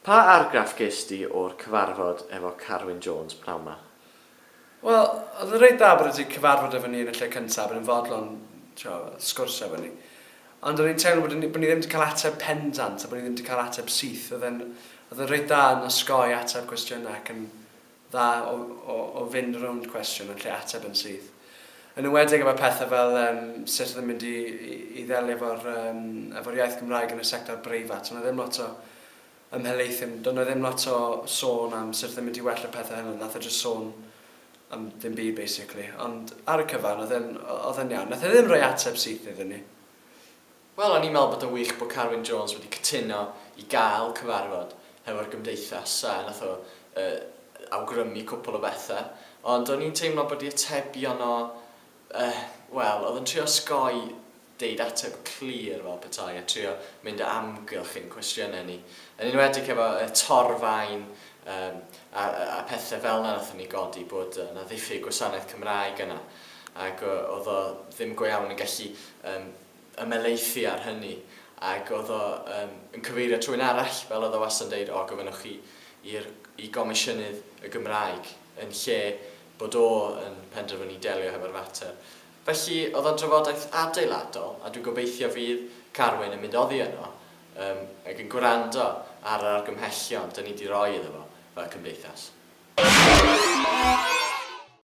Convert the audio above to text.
Pa argraff gest di o'r cyfarfod efo Carwyn Jones pnawn ma? Wel, oedd o'n reit dda bod e 'di cyfarfod efo ni yn y lle cyntaf, bod e'n fodlon, t'wod, sgwrsio efo ni. Ond o'n i'n teimlo bod ni bod ni ddim 'di cael ateb pendant a bod ni ddim 'di cael ateb syth. Oedd e'n oedd e'n reit dda yn osgoi ateb cwestiynau ac yn dda o fynd rownd cwestiwn yn lle ateb yn syth. Yn enwedig efo pethau fel um, sut oedd yn mynd i, i, i ddelio efo'r um, efo iaith Gymraeg yn y sector breifat. Ond oedd ddim lot o ymhelaethyn, doedd yna ddim lot o sôn am sut oedd yn mynd i well y pethau hynny. Nath o just sôn am ddim byd, basically. Ond ar y cyfan, oedd yn iawn. Nath e ddim rhoi ateb syth iddyn ni. Wel, o'n i'n meddwl bod o'n wych bod Carwyn Jones wedi cytuno i gael cyfarfod hefo'r Gymdeithas a wnaeth o awgrymu cwpl o bethau, ond o'n i'n teimlo bod ei atebion o, wel, oedd o'n trio osgoi deud ateb clir fel petai a trio mynd o amgylch ein cwestiynau ni, yn enwedig efo y torfaen a pethau fel 'na wnaethon ni godi bod 'na ddiffyg gwasanaeth Cymraeg yna ac oedd o ddim go iawn yn gallu ymhelaethu ar hynny ac oedd o yym yn cyfeirio at rywun arall fel oedd o wastad yn deud o gofynnwch chi i'r i Gomisiynydd y Gymraeg yn lle bod o yn penderfynu delio hefo'r fater. Felly oedd o'n drafodaeth adeiladol a dwi'n gobeithio fydd Carwyn yn mynd oddi yno yym ac yn gwrando ar yr argymhellion 'da ni 'di roi iddo fo fel cymdeithas.